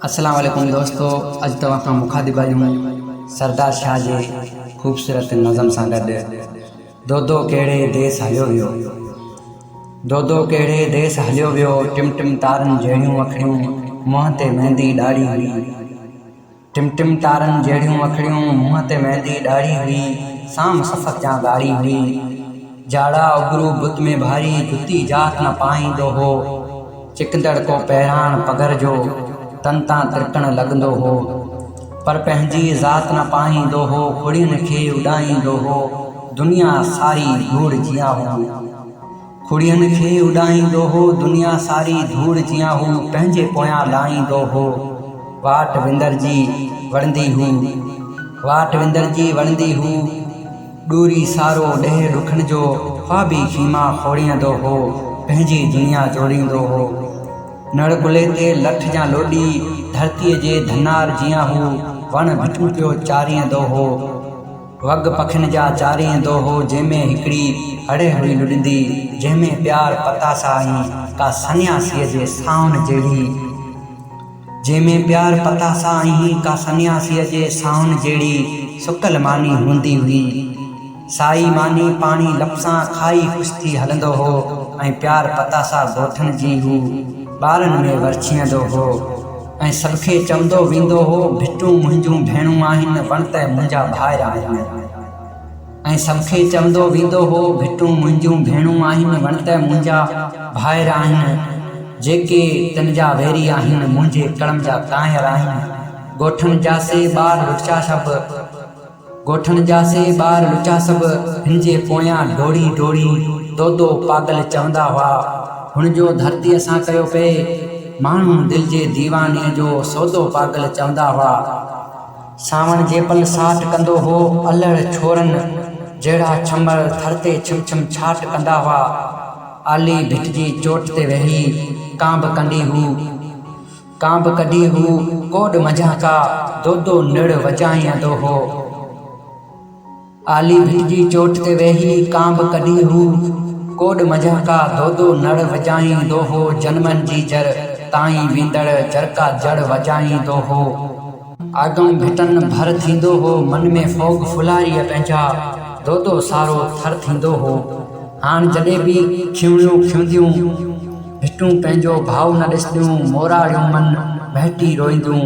اسلام عليڪم دوستو اڄ توهان کان مخاطب آهيون سردار شاهه جي خوبصورت نظم سان گڏ دودو ڪهڙي ديس هليو ويو دودو ڪهڙي ديس هليو ويو ٽم ٽم تارن جهڙيون اکڙيون منهن تي مهندي ڏاڙهي هئي ٽم ٽم تارن جهڙيون اکڙيون منهن تي مهندي ڏاڙهي هئي سام سفق جان ڳاڙهي هئي جاڙا اگرو بت ۾ ڀاري، جتي جات نه پاهيندو هو. چڪندڙ ڪو پهراڻ پگهر جو، تن تان ترڪڻ لڳندو هو. پر پنهنجي ذات نه پاهيندو هو، کڙين کي اڏائيندو هو. دنيا ساري ڌوڙ جيان هو. کڙين کي اڏائيندو هو، دنيا ساري ڌوڙ جيان هو، پنهنجي پويان لاهيندو هو. واٽ وندرجي وڙهندي هو، واٽ وندرجي وڙهندي هو. ڏوري سارو ڏيهه ڏکن جو، خوابي خيما کوڙيندو هو، پنهنجي دنيا جوڙيندو هو. نڙ ڪلهي تي لٺ جيان لوڏي، ڌرتيء جي ڌنار جيان هو، وڻ ڀٽيون پيو چاريندو هو. وڳ پکين جا چاريندو هو، جنهن ۾ هڪڙي هڙهه هئي لڏندي، جنهن ۾ پيار پتاسا ۽ ڪا سنياسيء جي سانهن جهڙي. جنهن ۾ پيار پتاسا ۽ ڪا سنياسيء جي سانهن جهڙي سڪل ماني هوندي هئي. سائي ماني پاڻي لفسان کائي خوش ٿي هلندو هو ۽ پيار پتاسا ڳوٺن جي هو ٻارن ۾ ورڇيندو هو ۽ سڀ کي چوندو ويندو هو، ڀٽون منهنجون ڀيڻون آهن، وڻ ته منهنجا ڀائر آهن. ۽ سمکي چوندو ويندو هو، ڀٽون منهنجون ڀيڻون آهن، وڻٽ منهنجا ڀائر آهن، جيڪي تن جا ويري آهن، منهنجي ڪڙم جا ڪانئر آهن. ڳوٺڻ جا سي ٻار لچا سڀ، ڳوٺڻ جا سي ٻار لچا سڀ، هن جي پويان ڊوڙي ڊوڙي، دودو پاڳل چوندا هئا. هن جو ڌرتيء سان ڪيو پئي. ماڻهو دل جي ديواني جو سودو پاڳل چوندا هئا. سانوڻ جي پل ساٽ ڪندو هو. الهڙ ڇورن جهڙا ڇمر ٿر تي ڇم ڇم ڇاٽ ڪندا هئا. آلي ڀٽ جي چوٽ تي ويهي ڪانڀ ڪنڊي هو. ڪانڀ ڪڍي هو ڪوڏ منجهان ڪا دودو نڙ وڄائيندو هو. آلي ڀٽ جي چوٽ تي ويهي ڪانڀ ڪڍي هو ڪوڏ منجهه ڪا دودو نڙ وڄائيندو هو جنمن جي جر تائين ويندڙ جرڪا جڙ وڄائيندو هو. آگم ڀٽن ڀر ٿيندو هو من ۾ ڦوڳ ڦلهاري پنهنجا دودو سارو ٿر ٿيندو هو هاڻ جڏهن به کيوڻيون کيونديون ڀٽون پنهنجو ڀاء نه ڏسنديون موراڙيون من مهٽي روئينديون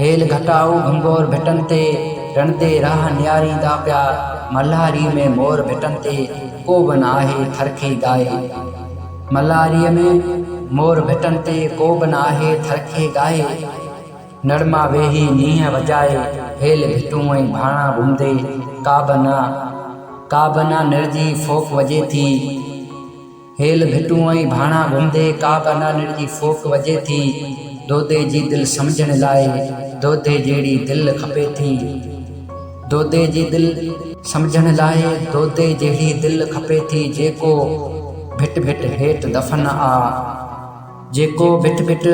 هيل گهٽائو گهنگور ڀٽن تي، رڻ تي راهه نهاريندا پيا، ملهاريء ۾ مور ڀٽن تي، ڪو به نه آهي ٿر کي ڳائي. ملهاريء ۾ مور ڀٽن تي، ڪو به نه آهي ٿر کي ڳائي. نڙ مان ويهي نينهن وڄائي، هيل ڀٽون ۽ ڀاڻا گهمندي، ڪا به نه، ڪا به نه نڙ جي ڦوڪ وڄي ٿي. هيل ڀٽون ۽ ڀاڻا گهمدي ڪا به نانڻ جي ڦوڪ وڄي ٿي دودي جي دل سمجهڻ لاء دودي جهڙي دل کپي ٿي دودي جي دل سمجهڻ لاء دودي جهڙي دل کپي ٿي جيڪو ڀٽ ڀٽ هيٺ دفن آ جيڪو ڀٽ ڀٽ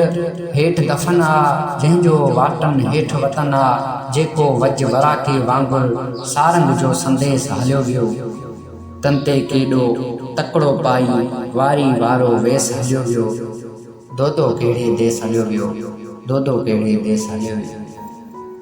هيٺ دفن آ جنهن جو واٽن هيٺ وطن آ جيڪو وڄ وراڪي وانگر سارنگ جو سنديس هليو ويو. تن تي ڪيڏو تڪڙو پائي واري وارو ويس هليو ويو دودو ڪهڙي ديس هليو ويو دودو ڪهڙي ديس هليو ويو.